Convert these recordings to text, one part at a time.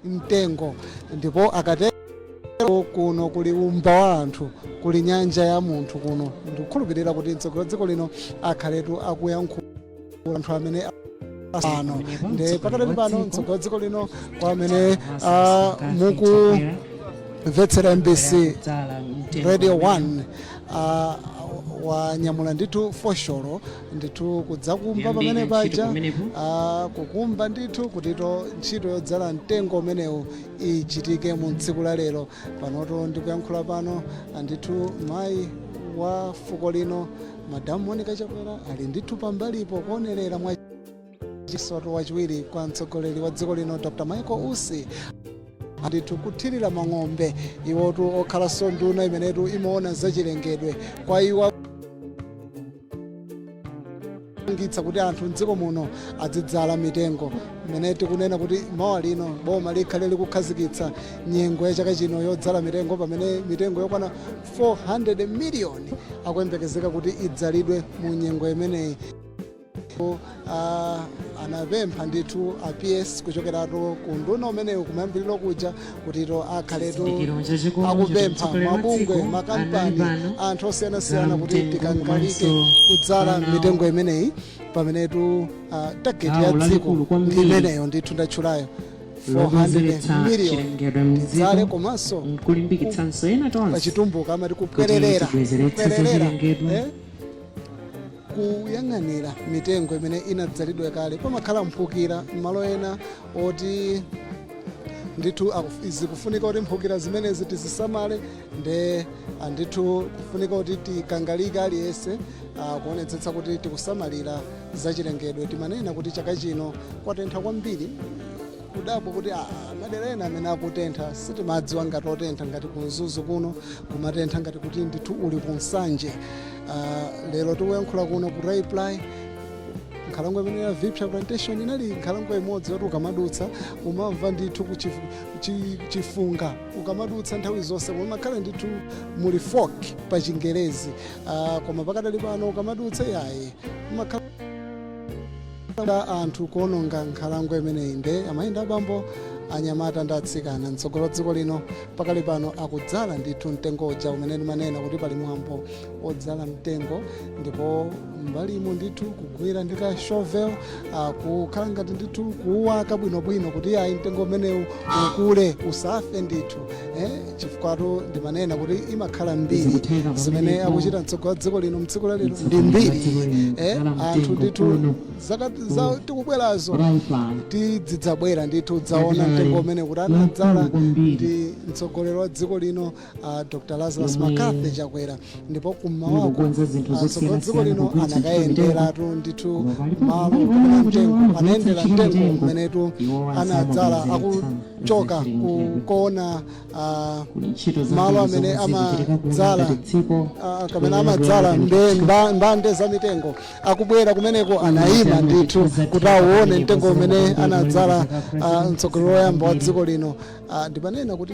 mtengo ndipo akatero kuno kuli wumba wa anthu kuli nyanja ya munthu kuno ndikukhulupirira kuti mtsogoleri wa dziko lino akhaletu akuyankhula anthu amene asano nde pakadali pano mtsogoleri wa dziko lino kwa amene ah, mukumvetsera mbc radio 1 ah, wanyamula ndithu fosholo ndithu kudzakumba pamene paja ah, kukumba ndithu kutitu ntchito yodzala mtengo umenewu ichitike mu tsiku la lero panotu ndikuyankhula pano ah, ndithu mayi wa fuko lino Madam Monica Chakwera ali ndithu pambalipo kuonerera mwa chisoto wachiwiri kwa mtsogoleri wa dziko lino Dr. Michael Usi ndithu kuthirira mang'ombe iwotu okhalanso nduna imenetu imaona zachilengedwe kwa iwo angitsa kuti anthu mdziko muno azidzala mitengo imene tikunena kuti mmawa uno boma likhale likukhazikitsa nyengo ya chaka chino yodzala mitengo pamene mitengo yokwana 400 miliyoni akuyembekezeka kuti idzalidwe mu nyengo imeneyi. Ndipo, ah, anapempha ndithu a PS kuchokeratu ku unduna umenewu kumayambiriro kuja kutitu akhaletu akupempha mabungwe makampani anthu osiyanasiyana kuti tikangalike kudzala mitengo imeneyi pamenetu ah, tageti ya dziko ndi imeneyo ndithu ndatchulayo 400 million tidzale komanso pachitumbuka amati kupwererera, eh, kuyang'anira mitengo imene inadzalidwa kale pamakhala mphukira m'malo ena oti ndithu akuf- zikufunika kuti mphukira zimenezi tizisamale nde ah, ndithu kufunika kuti tikangalike aliyense ah, kuonetsetsa kuti tikusamalira zachilengedwe timanena kuti chaka chino kwatentha kwambiri kudabwa kuti ah, madera ena amene akutentha sitimadziwa ngati otentha ngati ku mzuzu kuno kumatentha ngati kuti ndithu uli ku nsanje Ah, lero tikuyankhula kuno ku raiply nkhalango imene ya viphya plantation inali nkhalango imodzi yoti ukamadutsa umamva ndithu ku chifu- chi- chifunga ukamadutsa nthawi zonse umakhala ndithu muli fog pa chingerezi Ah, koma pakadali pano ukamadutsa yayi umakhala anthu kuononga nkhalango imeneyi nde amayi ndi abambo anyamata ndi atsikana mtsogoleri wa dziko lino pakali pano akudzala ndithu mtengo uja umene ndimanena kuti pali mwambo odzala mtengo ndipo m'mbalimo ndithu kugwira ndi ka shovel ah, kukhala ngati ndithu kuwaka bwinobwino kuti ayi mtengo umenewu ukule usafe ndithu eh? chifukwatu ndimanena kuti imakhala mbiri zimene akuchita mtsogoleri wa dziko lino mtsiku la lero ndi mbiri eh, anthu ndithu zaka za- zikubwerazo tidzidzabwera ndithu kudzaona mtengo umene kuti anadzala ndi mtsogoleri wa dziko lino uh, dr lazarus mccarthy chakwera ndipo kummawaku mtsogoleri wa dziko lino anakayenderatu ndithu malo kapena mtengo anayendera mtengo umenetu anadzala aku choka kukaona ah, malo amene amadzala ah, kapena amadzala mbe- mba- mbande za mitengo akubwera kumeneko anayima ndithu kuti awone mtengo umene anadzala ah, mtsogoleri woyamba wa dziko lino Ah, ndimanena kuti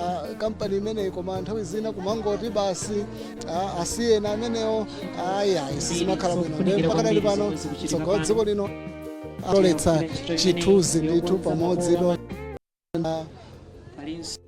ah, kampani imeneyi koma nthawi zina kumangoti basi ah, asiyeni amenewo ayi ayi sizimakhala bwino Ndipo pakadali pano mtsogoleri wa dziko lino atoletsa chithunzi ndithu pamodzi lo Palinso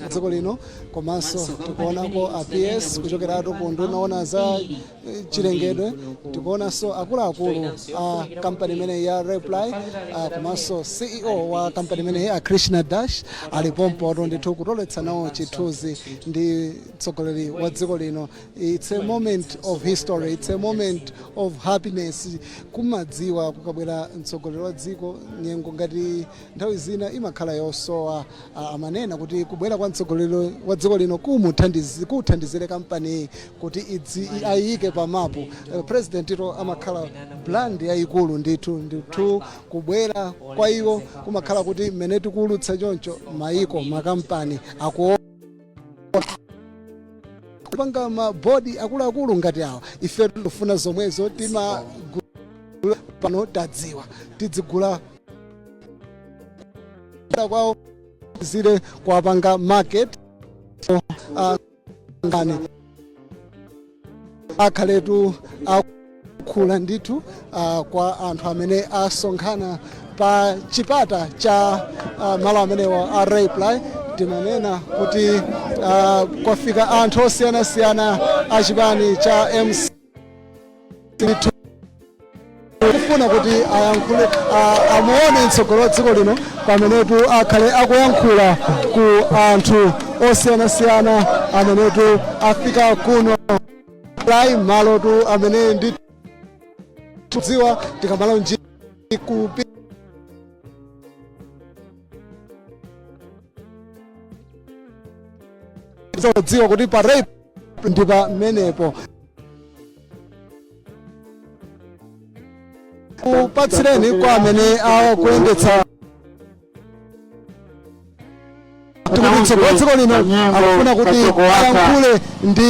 dziko lino komanso tikuonako a ps kuchokeratu ku unduna woona za eh, chilengedwe tikuonanso akuluakulu a kampani imeneyi ya Raiply ah, komanso ceo wa kampani imeneyi a krishna das ali pompotu ndithu kutoletsa nawo chithunzi ndi mtsogoleri wa dziko lino It's a moment of history, it's a moment of happiness kumadziwa kukabwera mtsogoleri wa dziko nyengo ngati nthawi zina imakhala yosowa ah, amanena kuti kubwera kwa mtsogoleri wa dziko lino kumuthandizi- kuthandizire kampaniyi kuti idzi- i- ayiyike pa mapu Eh, presidentitu amakhala brand yayikulu ndithu ndithu kubwera kwa iwo kumakhala kuti mmene tikuwulutsa choncho mayiko makampani akuona kupanga mabodi akuluakulu ngati awa ife tikufuna zomwezo timagula pano tadziwa tidzigula kuda kwawo zili kuwapanga market uh, ngani akhaletu akuyankhula ndithu uh, kwa anthu amene asonkhana pa chipata cha uh, malo amenewa a Raiply timanena kuti uh, kwafika anthu osiyanasiyana a chipani cha mc ndithu kufuna kuti ayankhule a- amuone mtsogoleri wa dziko lino pamenetu akhale akuyankhula ku anthu osiyanasiyana amenetu afika kuno Raiply malotu amene ndi tudziwa tikamala nji kupi zodziwa kuti pa Raiply ndi pamenepo kupatsireni kwa amene akuyendetsa tikutitso kwa dziko lino akufuna kuti ayankhule ndi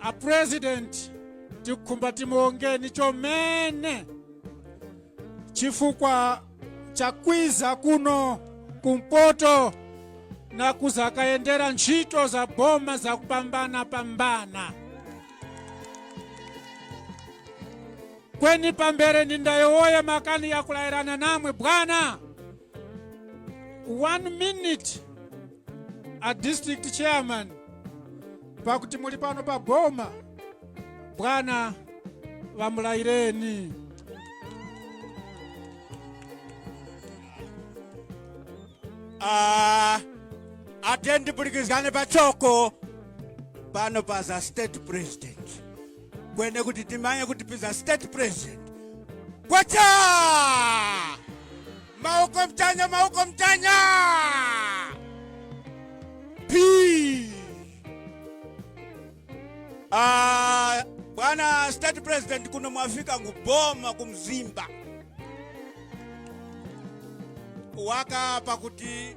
a president tikhumba timuwongeni chomene chifukwa chakwiza kuno kumpoto na kuzakayendera ntchito za boma za kupambana pambana kweni pambere nindayowoye makani yakulayirana namwe bwana one minute a district chairman pakuti muli pano pa boma bwana wamulayireni Ah, atendipurikizane pachoko pano paza state president kwene kuti timanye kuti piza state president kwacha mawoko mchanya mawoko mchanya p Ah, bwana state president kuno mwafika nguboma kumzimba waka pakuti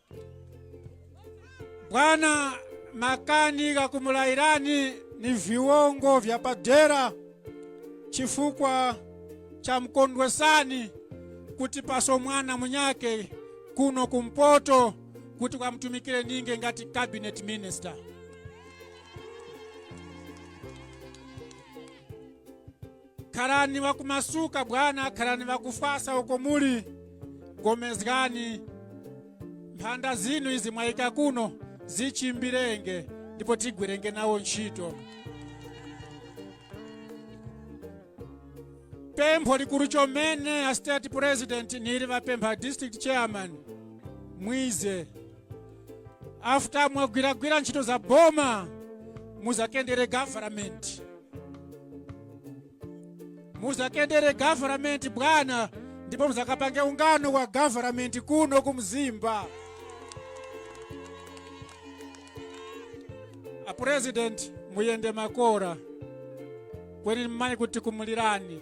bwana makani ghakumulayirani ni viwongo vya padera chifukwa cha mkondwesani kuti paso mwana munyake kuno kumpoto kuti kwamtumikire ninge ngati cabinet minister Khalani wakumasuka bwana, khalani wakufwasa uko muli. Gomezgani mphanda zinu izi mwayika kuno zichimbirenge ndipo tigwirenge nawo ntchito. Pempho likulu chomene a state president nili wapempha a district chairman mwize after mwagwiragwira ntchito za boma muzakendere government muzakendere government bwana ndipo muzakapange ungano wa government kuno kumzimba a president muyende makora kweni mmayi kuti kumulirani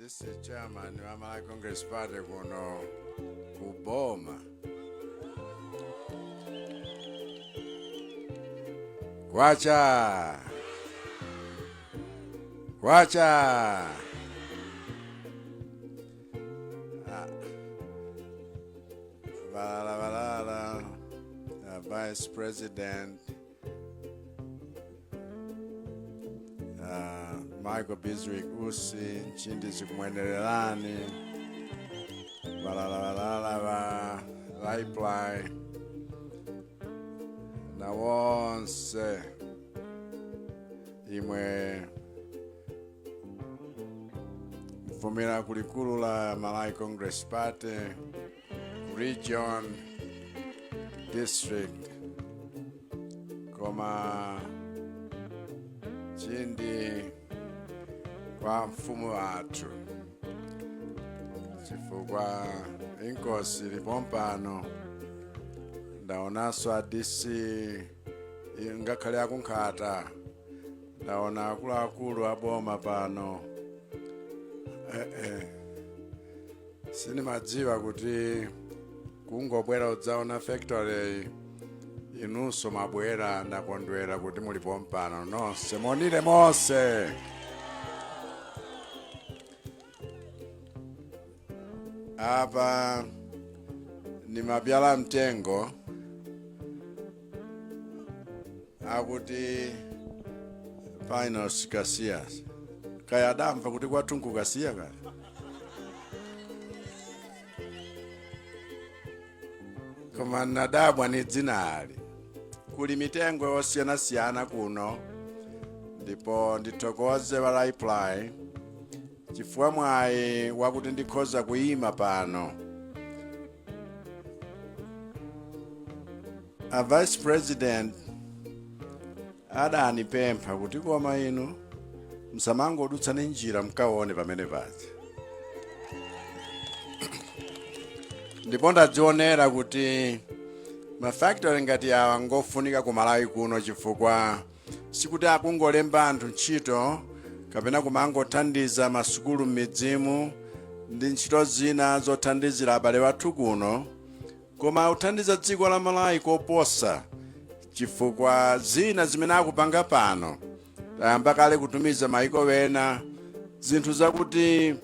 This is chairman wa Malawi Congress Party kuno ku Boma. Kwacha. Kwacha. Ah. Balala balala. Uh, Vice President Ah, michael biswick usi nchindi zikumwenererani valalavalavala va vaiplai na wonse imwe mvumira kulikulu la malawi congress party region district koma chindi kwa mfumu wathu chifukwa inkosi ili pompano ndaonanso a dc ngakhale aku nkhata ndaona akuluakulu aboma pano eh, eh. sindimadziwa kuti kungobwera udzaona factory inunso mwabwera ndakondwera kuti muli pompano nonse monire monse apa nimabyala mtengo akuti pinus kasiya kaya adamva kuti kwathu n'ku kasiya kaya koma nadabwa ni dzinali kuli mitengo yosiyanasiyana kuno ndipo ndithokoze wa raiply chifukwa mwayi wakuti ndikhoza kuyima pano a vice president adanipempha kuti koma inu musamangodutsa ni njira mkaone pamene paja ndipo ndadzionera kuti mafactory ngati awa ngofunika ku malawi kuno chifukwa sikuti akungolemba anthu ntchito kapena kumangothandiza masukulu m'midzimu ndi ntchito zina zothandizira abale wathu kuno koma akuthandiza dziko la malawi koposa chifukwa zina zimene akupanga pano tayamba kale kutumiza maiko wena zinthu zakuti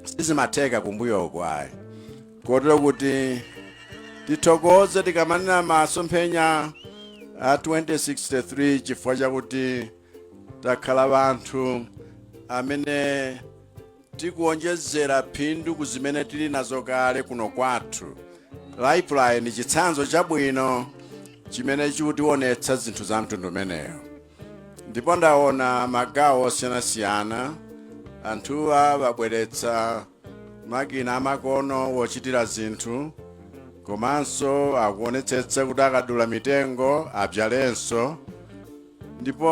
sizimatheka kumbuyoku ayi kotero kuti tithokoze tikamanena masomphenya a 2063 chifukwa chakuti takhala wanthu amene tikuonjezera phindu ku zimene tili nazo kale kuno kwathu raiply ni chitsanzo chabwino chimene chikutionetsa zinthu za mtundu umeneyo ndipo ndaona magawo osiyanasiyana anthuwa wabweretsa makina amakono wochitira zinthu komanso akuonetsetsa kuti akadula mitengo abzalenso ndipo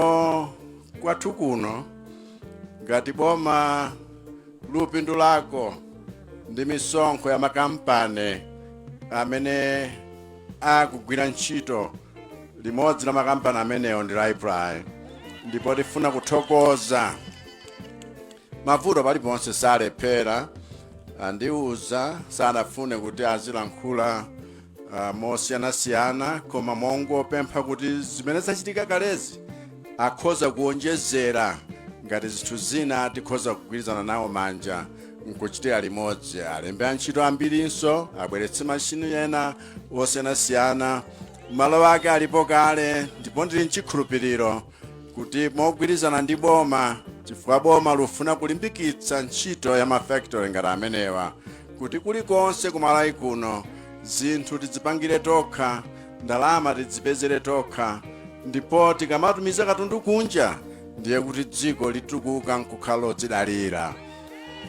kwathu kuno ngati boma lupindulako ndi misonkho ya makampani amene akugwira ntchito limodzi la makampani amenewo ndi Raiply ndipo tifuna kuthokoza mavuto paliponse salephereka andiuza sanafune kuti azilankhula uh, mosiyanasiyana koma mongopempha kuti zimene zachitika kalezi akhoza kuonjezera ngati zinthu zina tikhoza kugwirizana nawo manja nkuchitira limodzi alembe antchito ambirinso abweretse mashini ena osiyanasiyana malo ake alipo kale ndipo ndili nchikhulupiriro kuti mogwirizana ndi boma chifukwa boma lufuna kulimbikitsa ntchito ya mafactory ngati amenewa kuti kulikonse ku Malawi kuno zinthu tidzipangire tokha ndalama tidzipezere tokha ndipo tikamatumiza katundu kunja ndiye kuti dziko litukuka nkukhala lodzidalira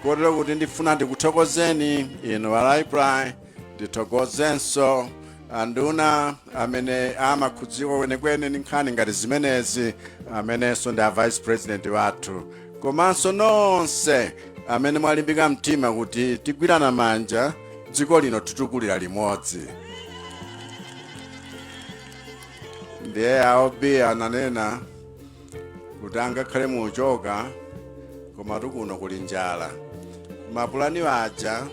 kotero kuti ndifuna ndikuthokozeni inu a Raiply ndithokozenso anduna amene amakhudzika kwenikweni ndi nkhani ngati zimenezi amenenso ndi a vice president wathu komanso nonse amene mwalimbika mtima kuti tigwirana manja dziko lino titukulira limodzi ndiye aobi ananena kuti angakhale muchoka komatu kuno kuli njala mapulani aja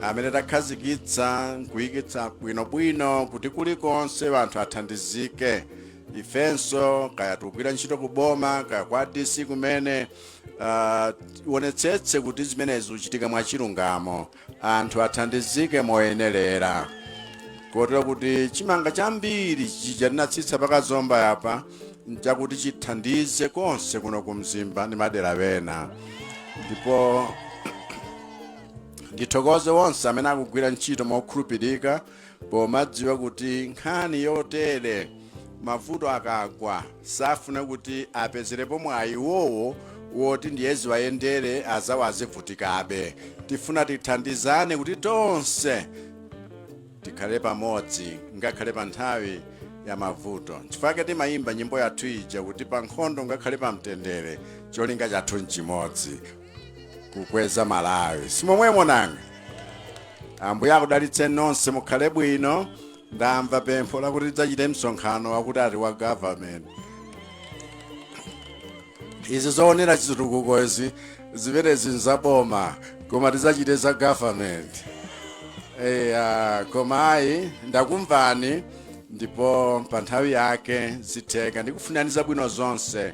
amene takhazikitsa nkuyikitsa bwinobwino kuti kulikonse anthu athandizike ifenso kaya tukugwira ntchito ku boma kaya kwa dc kumene uh, tionetsetse kuti zimenezi zichitika mwachilungamo anthu athandizike moyenelera kotero kuti chimanga chambiri chija tinatsitsa pakazomba yapa nchakuti chithandize konse kuno ku Mzimba ndi madera wena ndipo ndithokoze wonse amene akugwira ntchito mokhulupirika pomadziwa kuti nkhani yotere mavuto akagwa safuna kuti apezerepo mwayi iwowo woti ndiye ziwayendere azawo azivutikabe tifuna tithandizane kuti tonse tikhale pamodzi ngakhale pa nthawi ya mavuto chifukwa timayimba nyimbo yathu ija kuti pa nkhondo ngakhale pa mtendere cholinga chathu nchimodzi kukweza Malawi simomwemo nanga ambuye akudalitse nonse mukhale bwino ndamva pempho lakuti tidzachite msonkhano wakuti ati wa government izi zoonera chitukuko izi zimenezi nzaboma koma tidzachite za government eya koma ayi ndakumvani ndipo pa nthawi yake zitheka ndikufunani zabwino zonse